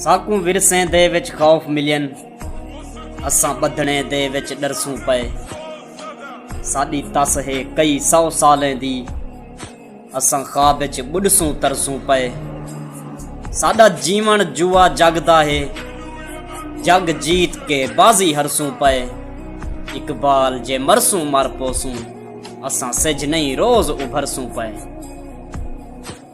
ساکوں ورسیں دے وچ خوف ملین اساں بدھنے دے وچ ڈرسوں پئے ساڈی تس ہے کئی سو سالیں دی اساں خواب وچ بڈسوں ترسوں پئے ساڈا جیون جوا جگ دا ہے جگ جیت کے بازی ہرسوں پئے اقبال جے مرسوں مر پوسوں اساں سج نہیں روز ابھرسوں پئے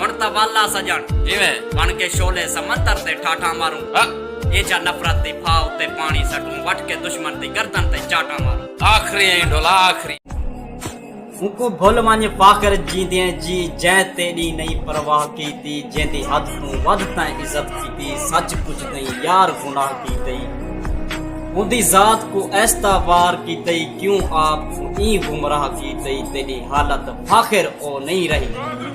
ہن تاں ول آ سڄݨ جیویں بݨ کے شعلے سمندر تے ٹھاٹھاں ماروں ہا ایجھا نفرت دی پھا اتے پاݨی سٹوں وٹھ کے دشمن دی گردن تے چاٹاں ماروں آخری ایں ڈھولا آخری اوکوں بھل ونج فاخر جیندیں جی جیں تیݙی نئیں پرواہ کیتی جیندی حد توں ودھ تیں عزت کیتی سچ پچھ تیں یار گناہ کیتی اوندی ذات کو ایستا وار کیتی کیوں آپ کو ایں گمراہ کیتی تیݙی حالت فاخر او نئیں رہی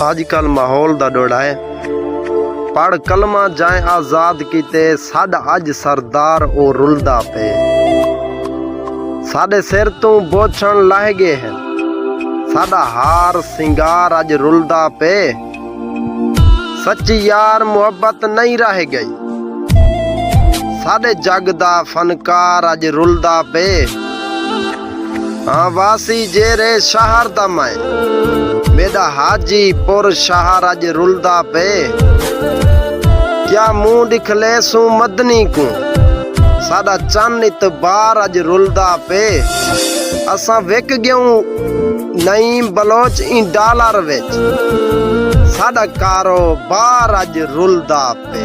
آج کل ماحول دا ڈوڑا ہے پڑھ کلمہ جائیں آزاد کیتے ساڈا اج سردار او رلدا پے ساڈے سر توں بوچھن لہہ گئے ہیں ساڈا ہار سنگار اج رلدا پے سچی یار محبت نہیں رہ گئی ساڈے جگ دا فنکار اج رلدا پے ہاں واسی جیرے شہر دا میں میڈا حاجی پور شہر اج رلدا پے کیا منہ ڈکھلے سوں مدنی کو ساڈا چن اتبار اج رلدا پے اساں وک گیوں Naeem Baloch N dollar which ساڈا کاروبار اج رلدا پے